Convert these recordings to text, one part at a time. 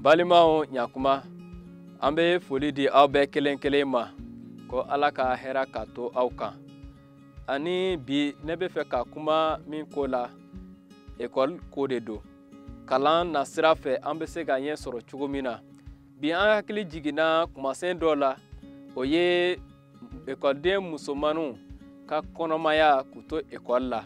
balimaw ɲakuma an bɛ foli di aw bɛɛ kelen kelen ma ko ala ka hɛra ka to aw kan ani bi ne bɛ fɛ ka kuma min ko la ekɔli ko de don kalan na sira fɛ an bɛ se ka ɲɛ sɔrɔ cogo min na bi an hakili jiginna kumasen dɔ la o ye ekɔliden musomanninw ka kɔnɔmaya k'u to ekɔli la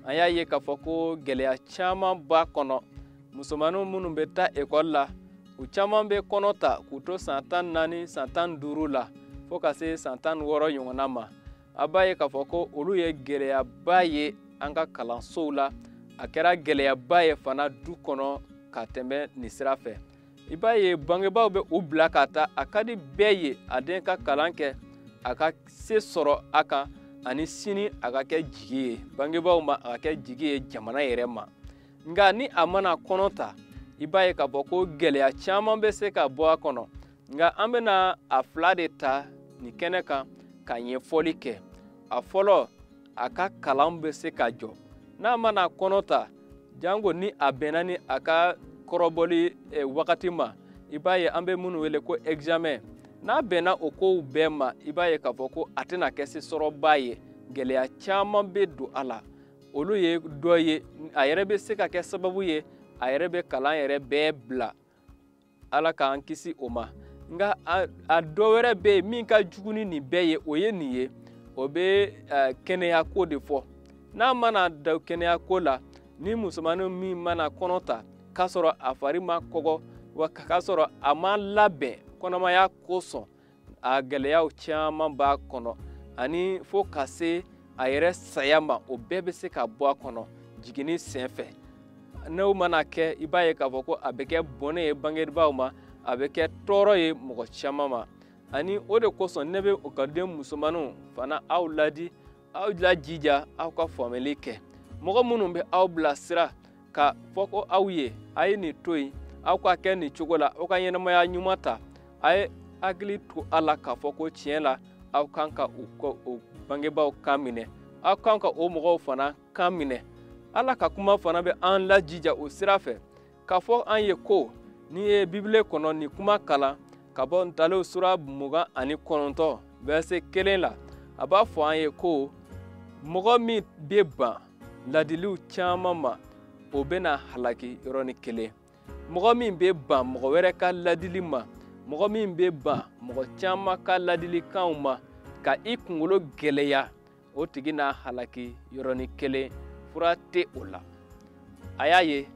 an y'a ye k'a fɔ ko gɛlɛya caman b'a kɔnɔ musomanninw minnu bɛ taa ekɔli la u caman bɛ kɔnɔ ta k'u to san tan naani san tan duuru la fo ka se san tan wɔɔrɔ ɲɔgɔnna ma a b'a ye k'a fɔ ko olu ye gɛlɛyaba ye an ka kalansow la a kɛra gɛlɛyaba ye fana du kɔnɔ ka tɛmɛ nin sira fɛ i b'a ye bangebaaw bɛ u bila ka taa a ka di bɛɛ ye a den ka kalan kɛ a ka se sɔrɔ a kan ani sini a ka kɛ jigi ye bangebaaw ma a ka kɛ jigi ye jamana yɛrɛ ma nka ni a mana kɔnɔ ta i b'a ye k'a fɔ ko gɛlɛya caman bɛ se ka bɔ a kɔnɔ nka an bɛna a fila de ta nin kɛnɛ kan ka ɲɛfɔli kɛ a fɔlɔ a ka kalan bɛ se ka jɔ n'a mana kɔnɔ ta janko ni a bɛnna ni a ka kɔrɔbɔli eh, wagati ma i b'a ye an bɛ minnu wele ko examen n'a bɛnna o kow bɛɛ ma i b'a ye k'a fɔ ko a tɛna kɛ se sɔrɔba ye gɛlɛya caman bɛ don a la olu ye dɔ ye a yɛrɛ bɛ se ka kɛ sababu ye a yɛrɛ bɛ kalan yɛrɛ bɛɛ bila ala k'an kisi o ma nka a dɔ wɛrɛ bɛ yen min ka jugu ni nin bɛɛ ye o ye nin ye o bɛ kɛnɛyako de fɔ n'a mana da kɛnɛyako la ni musomanin min mana kɔnɔ ta k'a sɔrɔ a fari ma kɔgɔ wa k'a sɔrɔ a ma labɛn kɔnɔmaya kosɔn a gɛlɛyaw caman b'a kɔnɔ ani fo ka se a yɛrɛ saya ma o bɛɛ bɛ se ka bɔ a kɔnɔ jiginni sen fɛ n'o mana kɛ i b'a ye k'a fɔ ko a bɛ kɛ bɔnɛ ye bangebaaw ma a bɛ kɛ tɔɔrɔ ye mɔgɔ caman ma ani o de kosɔn ne bɛ ekɔliden musomanninw fana aw ladi aw lajija aw ka faamuyali kɛ mɔgɔ minnu bɛ aw bilasira k'a fɔ ko aw ye a ye nin to yen aw ka kɛ nin cogo la aw ka ɲɛnamaya ɲuman ta a ye hakili to a la k'a fɔ ko tiɲɛ la aw kan ka o bangebaaw kan minɛ aw kan ka o mɔgɔw fana kan minɛ ala ka kuma fana bɛ an lajija o sira fɛ k'a fɔ an ye ko n'i ye bibile kɔnɔ nin kuma kalan ka bɔ ntalew sura mugan ani kɔnɔntɔn vɛrɛse kelen la a b'a fɔ an ye ko mɔgɔ min bɛ ban ladiliw caman ma o bɛna halaki yɔrɔnin kelen mɔgɔ min bɛ ban mɔgɔ wɛrɛ ka ladili ma mɔgɔ min bɛ ban mɔgɔ caman ka ladilikanw ma ka i kunkolo gɛlɛya o tigi n'a halaki yɔrɔnin kelen fura tɛ o la a y'a ye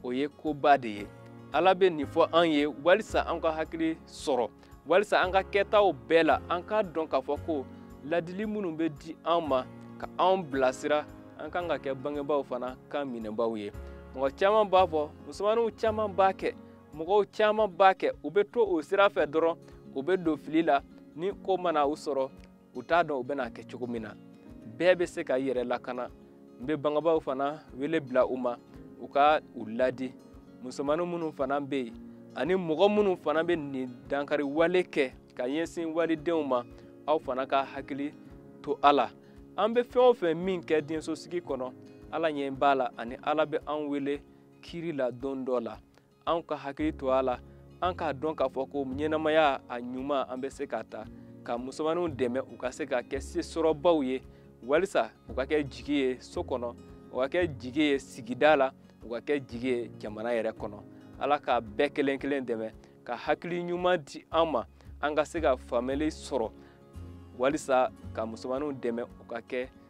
o ye koba de ye ala bɛ nin fɔ an ye walisa an ka hakili sɔrɔ walisa an ka kɛtaw bɛɛ la an k'a dɔn k'a fɔ ko ladili minnu bɛ di an ma ka an bilasira an kan ka kɛ bangebaaw fana kan minɛbaaw ye mɔgɔ caman b'a fɔ musomaninw caman b'a kɛ mɔgɔw caman b'a kɛ u bɛ to o sira fɛ dɔrɔn u bɛ don fili la ni ko mana u sɔrɔ u t'a dɔn u bɛna kɛ cogo min na bɛɛ bɛ se ka i yɛrɛ lakana n bɛ bangebaaw fana wele bila u ma u ka u ladi musomanin minnu fana bɛ yen ani mɔgɔ minnu fana bɛ nin dankari wale kɛ ka ɲɛsin walidenw ma aw fana ka hakili to a la an bɛ fɛn o fɛn min kɛ diɲɛsosigi kɔnɔ ala ɲɛ b'a la ani ala bɛ an wele kiri la don dɔ la an ka hakili to a la an k'a dɔn k'a fɔ ko ɲɛnamaya a ɲuman an bɛ se k'a ta ka musomaninw dɛmɛ u ka se ka kɛ sesɔrɔbaw ye walisa u ka kɛ jigi ye so kɔnɔ u ka kɛ jigi ye sigida la u ka kɛ jigi ye jamana yɛrɛ kɔnɔ ala k'a bɛɛ kelen kelen dɛmɛ ka hakili ɲuman di an ma an ka se ka faamuyali sɔrɔ walisa ka musomaninw dɛmɛ u ka kɛ